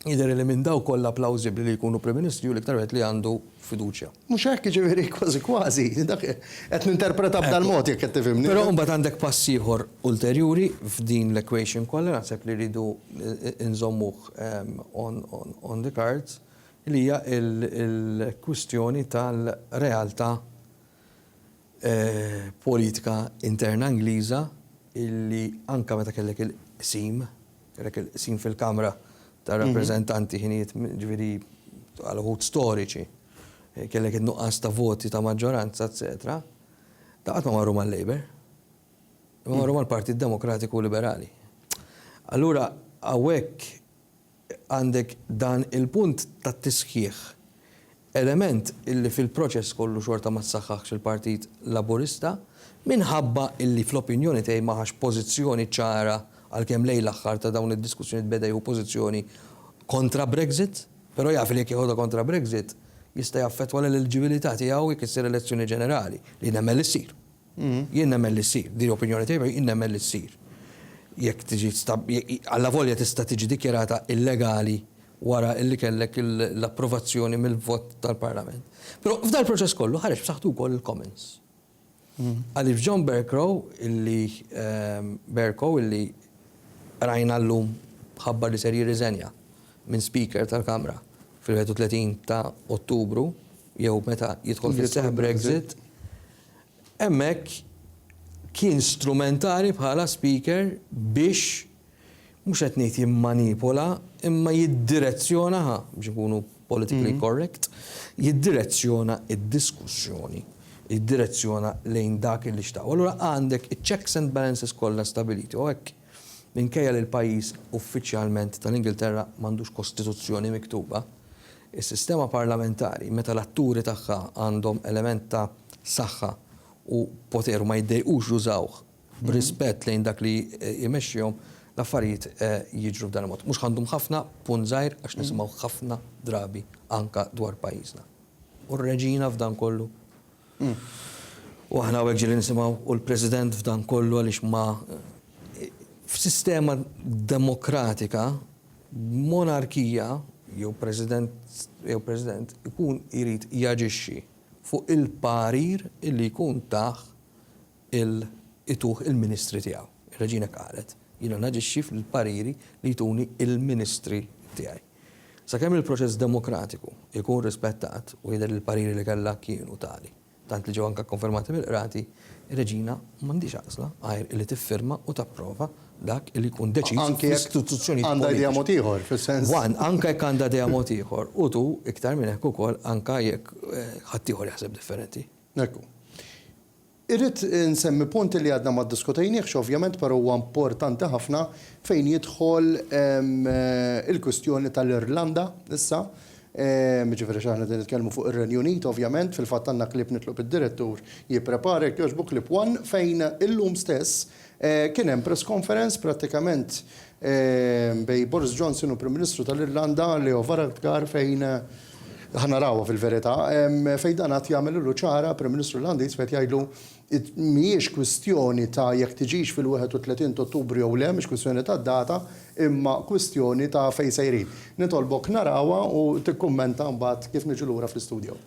jidher illi minn dawk kollha plawżibbli li jkunu Prim Ministri hu l-iktar wieħed li għandu fiduċja. Mhux hekk, jiġifieri kważi kważi dak qed ninterpreta b'dal-mod jekk qed tifhimni. Però imbagħad għandek pass ieħor ulterjuri f'din l-equation kollha naħseb li rridu nżommuh on the cards, li hija l-kwistjoni tal-realtà politika interna Ingliża li anke meta kellek il-qsim, kellek il-qsim fil-Kamra tar-Rappreżentanti ħinijiet, jiġifieri għal uħud storiċi, kellek in-nuqqas ta' voti ta' maġġoranza, eċċetera, dawn qatt ma marru mal-Labour. Imma marru mal-Partit Demokratiku Liberali. Allura hawnhekk, għandek dan il-punt tat-tisħiħ, element illi fil-proċess kollu xorta ma ssaħħaħx il-Partit Laburista, minħabba illi fl-opinjoni tiegħi ma ħax pożizzjoni ċara għalkemm lejn l-aħħar ta' dawn id-diskussjonijiet beda jieħu pożizzjoni kontra Brexit, però jaf li jekk jeħodha kontra Brexit jista' jaffettwa l-eliġibilità tiegħu jekk issir elezzjoni ġenerali, li nemmen li ssir. Jien nemmen li ssir. Din hi opinjoni tiegħi, jien nemmen li ssir. Jekk tiġi allavolja tista' tiġi dikjarata illegali wara li kellek l-approvazzjoni mill-vot tal-Parlament. Però f'dal-proċess kollu ħareġ b'saħħtu wkoll il-Commons. Għaliex John Bercow illi Bercow illi rajna llum ħabbar li ser jirriżenja minn Speaker tal-Kamra fil-31 ta' Ottubru jew meta jidħol fis-seħħ Brexit, Hemmhekk kien strumentali bħala speaker biex, mhux qed ngħid jimmanipula, imma jiddirezzjona, ħa biex inkunu politically correct, jiddirezzjona d-diskussjoni, jiddirezzjona lejn dak li xtaq. U allura għandek iċ-checks and balances kollha stabiliti u hekk. Minkejja li l-pajjiż uffiċjalment tal-Ingilterra m'għandux kostituzzjoni miktuba, is-sistema parlamentari, meta l-atturi tagħha għandhom element ta' saħħa u poter u ma jiddejqux jużawh b'rispett lejn dak li jmexxihom, l-affarijiet jiġru f'dan il-mod. Mhux għandhom ħafna, punt żgħir, għax nisimgħu ħafna drabi anke dwar pajjiżna. U r-Reġina f'dan kollu? U aħna hawnhekk ġieli nisimgħu u l-President f'dan kollu għaliex ma f'sistema demokratika b'monarkija jew President jew President ikun irid jaġixxi fuq il-parir li jkun tah il ituh il-ministri tiegħu. Ir-reġina qalet, Jiena naġixxi fil-pariri li jtuni il-ministri tiegħi. Sakemm il-proċess demokratiku jkun rispettat, u jidher li l-pariri li kellha kienu tali, tant li ġew anke kkonfermati mill-Qrati, ir-reġina m'għandhiex għażla għajr li tiffirma u tapprova dak li jkun deċiż fl-istituzzjonijiet politiċi. Anke jekk għandha idea mod ieħor, fis-sens. Anke jekk għandha idea mod ieħor, u tu iktar minn hekk ukoll anke jekk ħaddieħor jaħseb differenti. Ekku. Irrid insemmi punt li għadna ma ddiskutejniehx ovvjament però huwa importanti ħafna fejn jidħol il-kwistjoni tal-Irlanda issa, jiġifieri għax aħna qegħdin nitkellmu fuq ir-Renju Unit ovvjament, fil-fatt għandna clip nitlob id-Direttur jipprepara jekk jogħġbok clip one fejn illum stess Kien hemm press conference prattikament bejn Boris Johnson u l-Prim Ministru tal-Irlanda Leo Varadkar fejn ħa narawha fil-verità, fejn dan qagħad jagħmilulu ċara, Prim Ministru Irlandiż qed jgħidlu mhijiex kwistjoni ta' jekk tiġix fil-31 t'Ottubru jew le, mhix kwistjoni ta' data, imma kwistjoni ta' fejn sejrin. Nitolbok narawha u tikkummenta mbagħad kif niġu lura fl-istudio.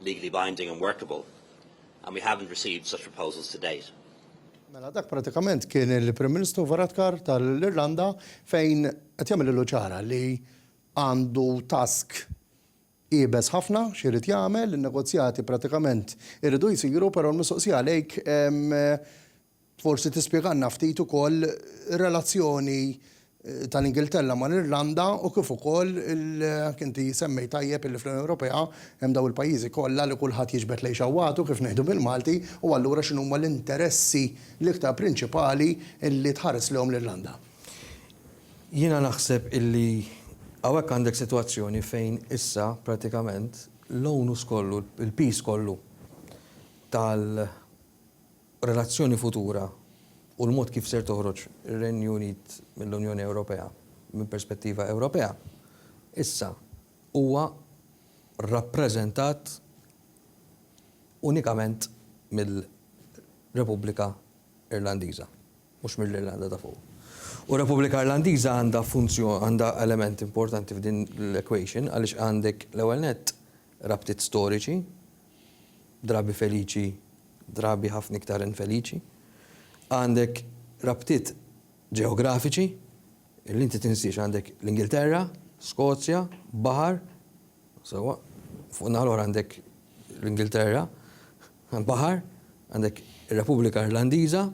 legally binding and workable and we haven't received such proposals to date. Mela dak pratikament kien il-Prim Ministru Varadkar tal-Irlanda fejn qed jagħmel ilu ċara li għandu task ibes ħafna x'irid jagħmel, in-negozjati pratikament iridu jsiru, però l-mistoqsija għalejk Forsi tispjegalna ftit ukoll ir-relazzjoni tal-Ingilterra mal-Irlanda u kif ukoll jekk inti semmejt tajjeb illi fl-Unjoni Ewropea hemm dawn il-pajjiżi kollha li kulħadd jiġbed lejn xewwatu kif ngħidu bil-Malti u allura x'inhuma l-interessi l-iktar prinċipali illi tħares lejhom l-Irlanda? Jiena naħseb illi hawnhekk għandek sitwazzjoni fejn issa prattikament l-onus kollu, il-piż kollu tal-, relazzjoni futura u l-mod kif ser toħroġ ir-Renju Unit mill-Unjoni Ewropea minn perspettiva Ewropea, issa huwa rappreżentat unikament mill-Repubblika Irlandiża, mhux mill-Irlanda ta' Fuq. U r-Repubblika Irlandiża għandha funzjoni, għandha element importanti f'din l-equation għaliex għandek, l-ewwel nett, rabtiet storiċi drabi feliċi, drabi ħafna iktar infeliċi. Għandek rabtiet ġeografiċi li inti tinsiex, għandek l-Ingilterra, Skozja, baħar, sewwa, fuq naħa l-oħra għandek l-Ingilterra, baħar, għandek ir-Repubblika Irlandiża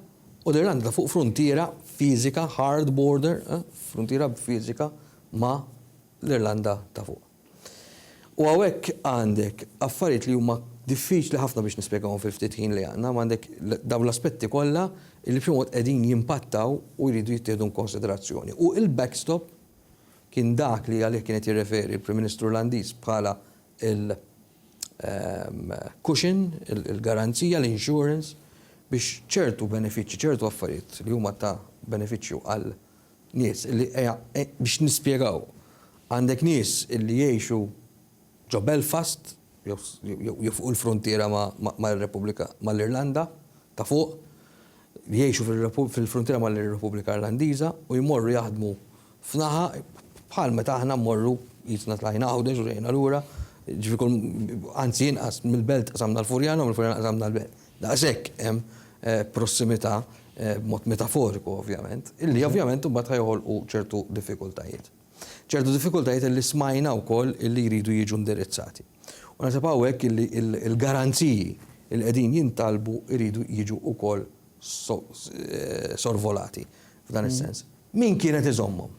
u l-Irlanda fuq fruntiera fiżika, hard border, eh, fruntiera fiżika ma' l-Irlanda ta' fuq. U hawnhekk għandek affarijiet li huma diffiċli ħafna biex nispjegawhom fil-ftit ħin li għandna, imma għandek dawn l-aspetti kollha li b'xi mod qegħdin jimpattaw u jridu jittieħdu inkonsiderazzjoni. U l-backstop kien dak li għalih kien qed jirreferi l-Prim Ministru Olandiż bħala l-cushion, il-garanzija, l-insurance biex ċertu benefiċċji, ċertu affarijiet li huma ta' benefiċċju għal Nies li, biex nispjegaw, għandek nies li jgħixu ġo Belfast jew fuq il-fruntiera mar-Repubblika, mal-Irlanda ta' fuq, li jgħixu fil-fruntiera mar-Repubblika Irlandiża u jmorru jaħdmu f'naħa, bħal meta aħna mmorru qisna tlajna Għawdex u ġejna lura, jiġifieri kull, anzi inqas, mill-Belt qsamna l-Furjana u mill-Furjana qsamna l-Belt. Daqshekk hemm prossimità, b'mod metaforiku ovvjament, illi ovvjament imbagħad ħa joħolqu ċertu diffikultajiet. Ċertu diffikultajiet illi smajna wkoll illi jridu jiġu indirizzati. U naħseb hawnhekk illi l-garanziji li qegħdin jintalbu jridu jiġu wkoll sorvolati f'dan is-sens. Min kien qed iżommhom?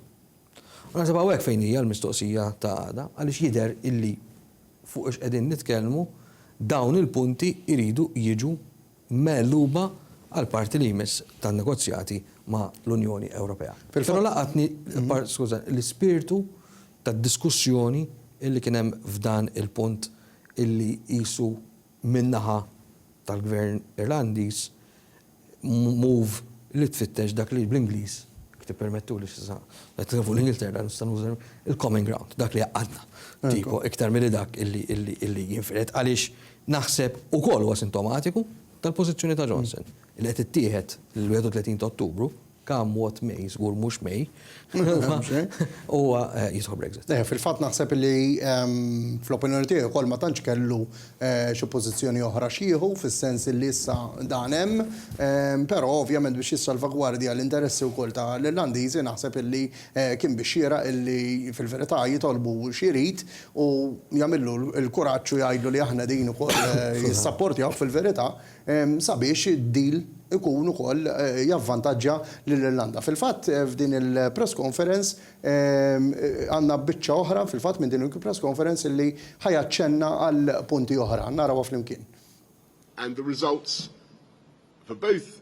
U naħseb hawnhekk fejn hija l-mistoqsija ta' għada, għaliex jidher illi fuq ix qegħdin nitkellmu, dawn il-punti jridu jiġu megħluba għall-parti li jmiss tan-negozjati ma' l-Unjoni Ewropea. Però laqatni, skuża, l-ispirtu tad-diskussjoni illi kien hemm f'dan il-punt illi qisu min-naħa tal-Gvern Irlandiż, move li tfittex dak li bl-Ingliż, jekk tippermettuli s'issa qed inħobb l-Ingilterra nista' nuża l-common ground, dak li jgħaqqadna, tipo, iktar milli dak li jinfired, għaliex naħseb ukoll huwa sintomatiku tal-pożizzjoni ta' Johnson li qed tittieħed l-31 ta' Ottubru, Come what may, żgur mhux may, huwa jidħol Brexit. Fil-fatt naħseb li fl-opinjoni tiegħi wkoll ma tantx kellu xi pożizzjoni oħra x'jieħu fis-sens li issa dan hemm, però ovvjament biex jissalvagwardja l-interessi wkoll ta' l-Irlandiżi naħseb li kien bix-xieraq li fil-verità jitolbu x'irid u jagħmillu l-kuraġġ u jgħidlu li aħna qegħdin ukoll jissapportjawk fil-verità. sabiex id-deal ikun ukoll javvantaġġja lill-Irlanda. Fil-fatt, f'din il-press conference għandna biċċa oħra fil-fatt minn din il-press conference li ħa jaċċenna għal punti oħra. Narawha flimkien. and the results for both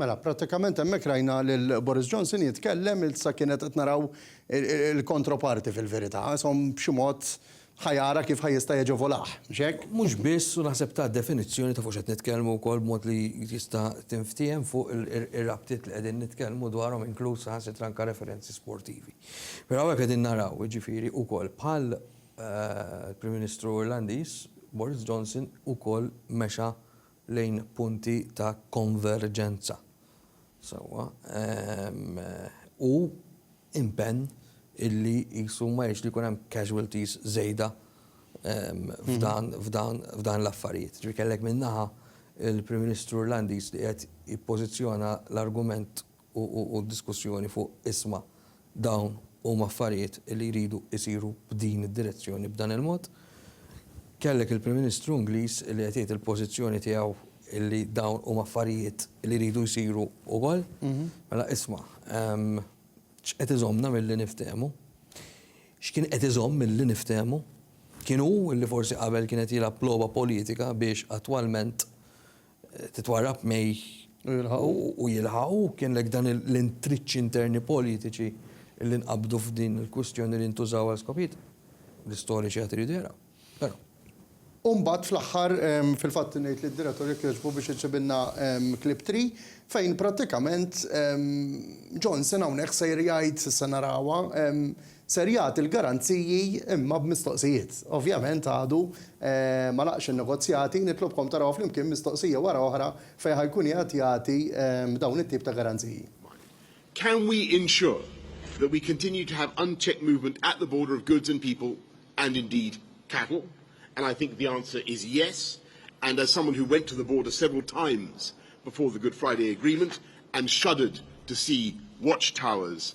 Mela, prattikament hemmhekk rajna lil Boris Johnson jitkellem ilsa kienet qed naraw il-kontroparti fil-verità, isom b'xi mod ħa jara kif ħa jista' jaġevolah, mhux hekk? Mhux biss, u naħseb ta definizzjoni ta' fuq x'qed nitkellmu wkoll b'mod li tista' tinftiehem fuq ir-rabtiet li qegħdin nitkellmu dwarhom inkluż saħansitra anke referenzi sportivi. Però hawnhekk qegħdin naraw, jiġifieri, ukoll bħal l-Prim Ministru Irlandiż, Boris Johnson ukoll mexa lejn punti ta' konverġenza sewwa u impenn illi qisu ma jridx li jkun hemm casualties żejda f'dan l-affarijiet. Ġifieri kellek minn naħa l-Prim Ministru Irlandiż li qed jippożizzjona l-argument u d-diskussjoni fuq isma' dawn huma affarijiet li jridu jsiru b'din id-direzzjoni b'dan il-mod. Kellek il-Prim Ministru Ingliż li qed jgħid il-pożizzjoni tiegħu li dawn huma affarijiet li jridu jsiru wkoll. Mela isma', x'qed iżommna milli niftehmu? X'kien qed iżomm milli niftehmu? Kien hu li forsi qabel kien qed jilgħab logħba politika biex attwalment titwarrab May u jilħaqu, kien hekk dan l-intriċċi interni politiċi li nqabdu f'din il-kwistjoni li ntużaw għal skopijiet l-istoriċi għad iridu jaraw. Però. U mbagħad fl-aħħar fil-fatt ngħid lid-Direttur jekk jogħġbu biex iġibilna clip three fejn prattikament Johnson hawnhekk sejr jgħid, issa narawha, Ser jagħti l-garanziji imma b'mistoqsijiet. Ovvjament għadu ma laqgħx in-negozjati, nitlobkom tarawha flimkien mistoqsija wara oħra fejn ħa jkun qiegħed jagħti dawn it-tip ta' garanziji. Can we ensure that we continue to have unchecked movement at the border of goods and people and indeed cattle? And I think the answer is yes, and as someone who went to the border several times before the Good Friday Agreement and shuddered to see watch towers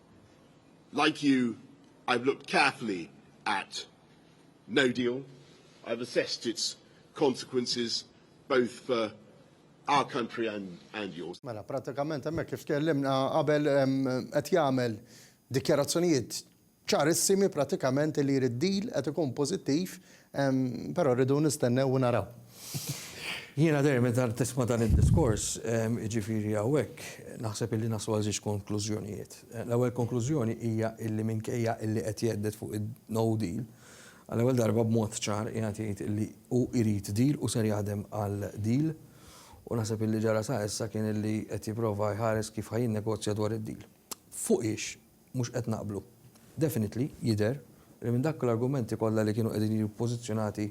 Like you, I've looked carefully at no deal. I've assessed its consequences both for our country and, and yours. Mela, pratikament hemmhekk kif tkellimna qabel qed jagħmel dikjarazzjonijiet ċarissimi pratikament li jrid deal qed ikun pożittiv Però rridu nistennew u naraw. Jiena dejjem meta tisma' dan id-diskors, jiġifieri hawnhekk naħseb illi naslu għal żewġ konklużjonijiet. L-ewwel konklużjoni hija illi minkejja illi qed jhedded fuq il-no deal, għall-ewwel darba b'mod ċar qiegħed jgħid illi hu jrid deal u ser jaħdem għal deal. U naħseb illi ġara sa issa kien illi qed jipprova jħares kif ħa jinnegozja dwar id-deal. Fuq hiex? mhux qed naqblu. Definitely, jidher, li minn dak l-argumenti kollha li kienu qegħdin jiġu ppożizzjonati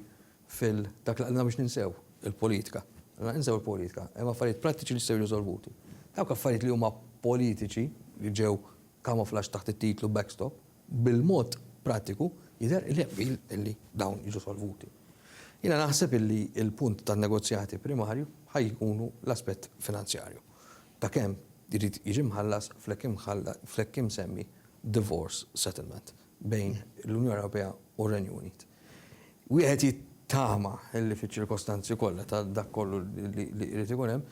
fil dak li qbilna biex ninsew il-politika. Qbilna ninsew il-politika. Hemm affarijiet prattiċi li jistgħu jiġu solvuti. Dawk affarijiet li huma politiċi li ġew camouflaged taħt it-titlu backstop, bil-mod prattiku jidher illi hemm qbil illi dawn jiġu solvuti. Jiena naħseb illi l-punt tan-negozjati primarju ħa jkunu l-aspett finanzjarju. ta' kemm irid jiġi mħallas fl-hekk imsemmi divorce settlement bejn l-Unjoni Ewropea u r-Renju Unit. Wieħed jittama li fiċ-ċirkostanzi kollha ta' dak kollu li jrid ikun hemm,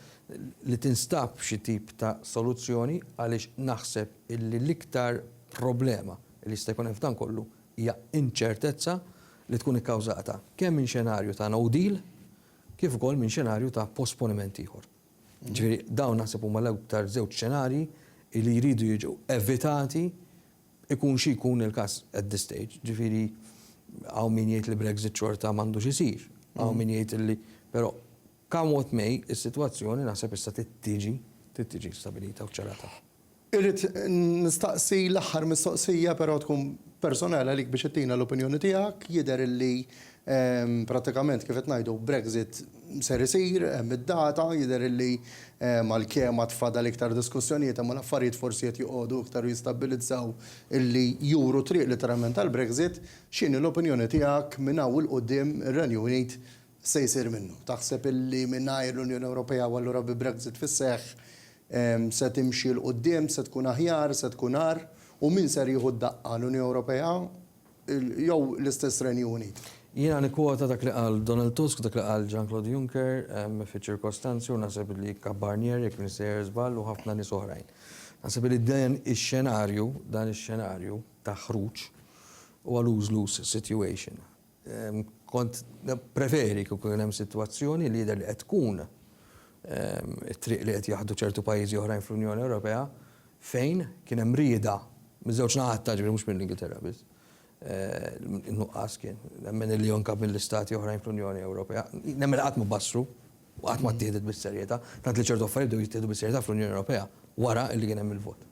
li tinstab xi tip ta' soluzzjoni għaliex naħseb li l-iktar problema li jista' jkun hemm f'dan kollu hija inċertezza li tkun ikkawżata kemm minn xenarju ta' no deal kif ukoll minn xenarju ta' posponiment ieħor. Ġifieri dawn naħseb huma l-aktar żewġ xenarji li jridu jiġu evitati ikun xi jkun il-każ at this stage. Ġifieri hawn min jgħid li Brexit xorta m'għandux isir. Hawn min jgħid illi però come what may is-sitwazzjoni naħseb issa trid tiġi trid tiġi stabilita u ċċarata. Irrid nistaqsi l-aħħar mistoqsija però tkun personali għalik biex ittina l-opinjoni tiegħek. Jidher illi prattikament kif qed ngħidu Brexit ser isir, hemm id-data, jidher illi għalkemm għad fadal iktar diskussjonijiet imma l-affarijiet forsi qed joqogħdu iktar u jistabbilizzaw illi juru t-triq litteralment għall-Brexit. X'inhi l-opinjoni tiegħek minn hawn 'il quddiem ir-Renju Unit se jsir minnu? Taħseb illi mingħajr l-Unjoni Ewropea u allura bi Brexit fis-seħħ se timxi 'l quddiem, se tkun aħjar, se tkun agħar? U min ser jieħu d-daqqa, l-Unjoni Ewropea jew l-istess Renju Unit? Jiena nikkwota dak li qal Donald Tusk, dak li qal Jean-Claude Juncker fiċ-ċirkostanzi u naħseb illi Kap Barnier, jekk m'iniex sejjer żball, u ħafna nies oħrajn. Naħseb illi dan ix-xenarju, dan ix-xenarju ta' ħruġ huwa lose-lose situation. Kont nippreferi kieku kien hemm sitwazzjoni li jidher li qed tkun it-triq li qed jaħdu ċertu pajjiżi oħrajn fl-Unjoni Ewropea fejn kien hemm rieda miż-żewġ naħat ta' ġifieri mhux mill-Ingilterra biss, in-nuqqas kien, nemmen illi anke mill-istati oħrajn fl-Unjoni Ewropea, nemmen li qatt ma bassru u qatt ma ttieħdet bis-serjetà, tant li ċertu affarijiet bdew jittieħdu bis-serjetà fl-Unjoni Ewropea wara li kien hemm il-vot.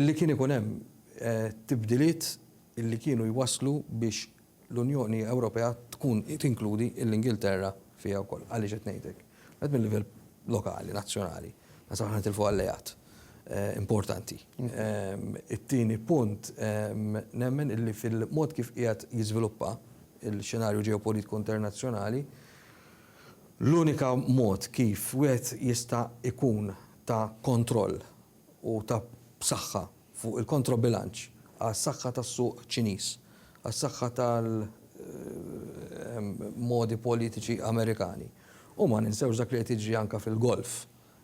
Illi kien ikun hemm tibdiliet illi kienu jwasslu biex l-Unjoni Ewropea tkun tinkludi l-Ingilterra fiha wkoll. Għaliex qed ngħid hekk? Wieħed mil-livell lokali, nazzjonali, naħseb aħna nitilfu alleat importanti. It-tieni punt, nemmen illi fil-mod kif qiegħed jiżviluppa l-xenarju ġeopolitiku internazzjonali, l-unika mod kif wieħed jista' jkun ta' kontroll u ta' b'saħħa, fuq il-kontrobilanċ għas-saħħa tas-suq Ċiniż, għas-saħħa tal-modi politiċi Amerikani. U ma ninsewx dak li qed jiġri anke fil-Golf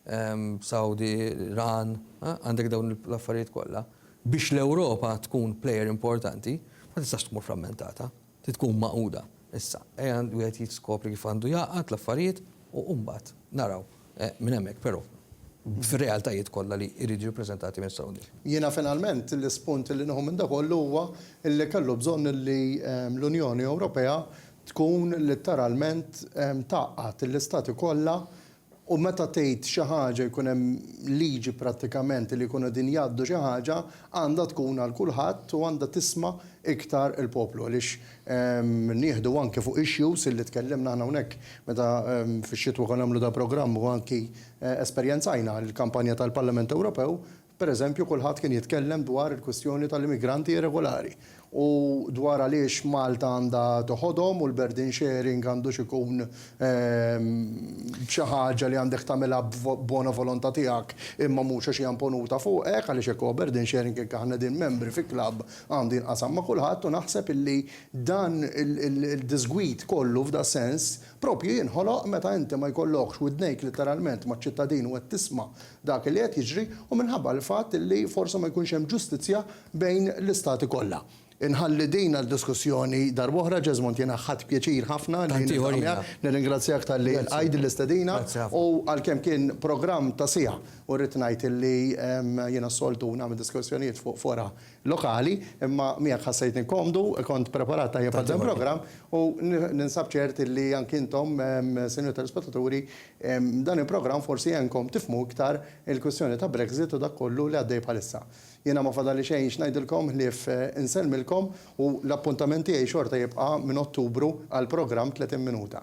Sawdi, l-Iran, għandek dawn l-affarijiet kollha. Biex l-Ewropa tkun plejer importanti, ma tistax tmur frammentata. Trid tkun magħquda. Issa, ejja wieħed jiskopri kif għandu jgħaqqad l-affarijiet u mbagħad naraw minn hemmhekk, però fir-realtajiet kollha li jridu jiġu ppreżentati minn issa 'l quddiem. Jiena finalment l-ispunt li nieħu minn da kollu huwa li kellu bżonn li l-Unjoni Ewropea tkun litteralment tgħaqqad l-Istati kollha U meta tgħid xi ħaġa jkun hemm liġi prattikament li jkunu qegħdin jgħaddu xi ħaġa għandha tkun għal kulħadd u għandha tisma' iktar il-poplu għaliex nieħdu anki fuq issues illi tkellimna aħna hawnhekk meta fix-xitwa konna nagħmlu dal-programm u anki esperjenzajna l-kampanja tal-Parlament Ewropew Per eżempju, kulħadd kien jitkellem dwar il-kwistjoni tal-immigranti irregolari u dwar għaliex Malta għandha toħodhom u l-burden sharing għandux ikun xi ħaġa li għandek tagħmilha b'bona volonta tiegħek imma mhux għax hija imponuta fuqek għaliex jekk huwa burden sharing jekk aħna qegħdin membri fi klabb għandu jinqasam ma' kulħadd u naħseb illi dan il-diżgwid kollu f'dasens Propju jinħoloq meta inti ma jkollokx widnejk litteralment maċ-ċittadin u qed tisma' dak li qed jiġri u minħabba l-fatt li forsi ma jkunx hemm ġustizzja bejn l-istati kollha. Inħalli din għal diskussjoni darb'oħra. Jesmond jiena ħadt pjaċir ħafna li niltaqa' miegħek. Nirringrazzjak talli lqajt din l-istedina u għalkemm kien programm ta' siegħa u rrid ngħid li jiena s-soltu nagħmel diskussjonijiet fuq fora lokali, imma miegħek ħassejtni komdu, kont preparat tajjeb għal dan il-programm u ninsab ċert illi anki intom, Sinjur Telespettaturi, dan il-programm forsi għenkom tifhmu iktar il-kwistjoni ta' Brexit u dak kollu li għaddej bħalissa. Jiena ma fadalli xejn x'ngħidilkom ħlief insellmilkom u l-appuntament tiegħi xorta jibqa' minn Ottubru għall-programm 30 Minuta.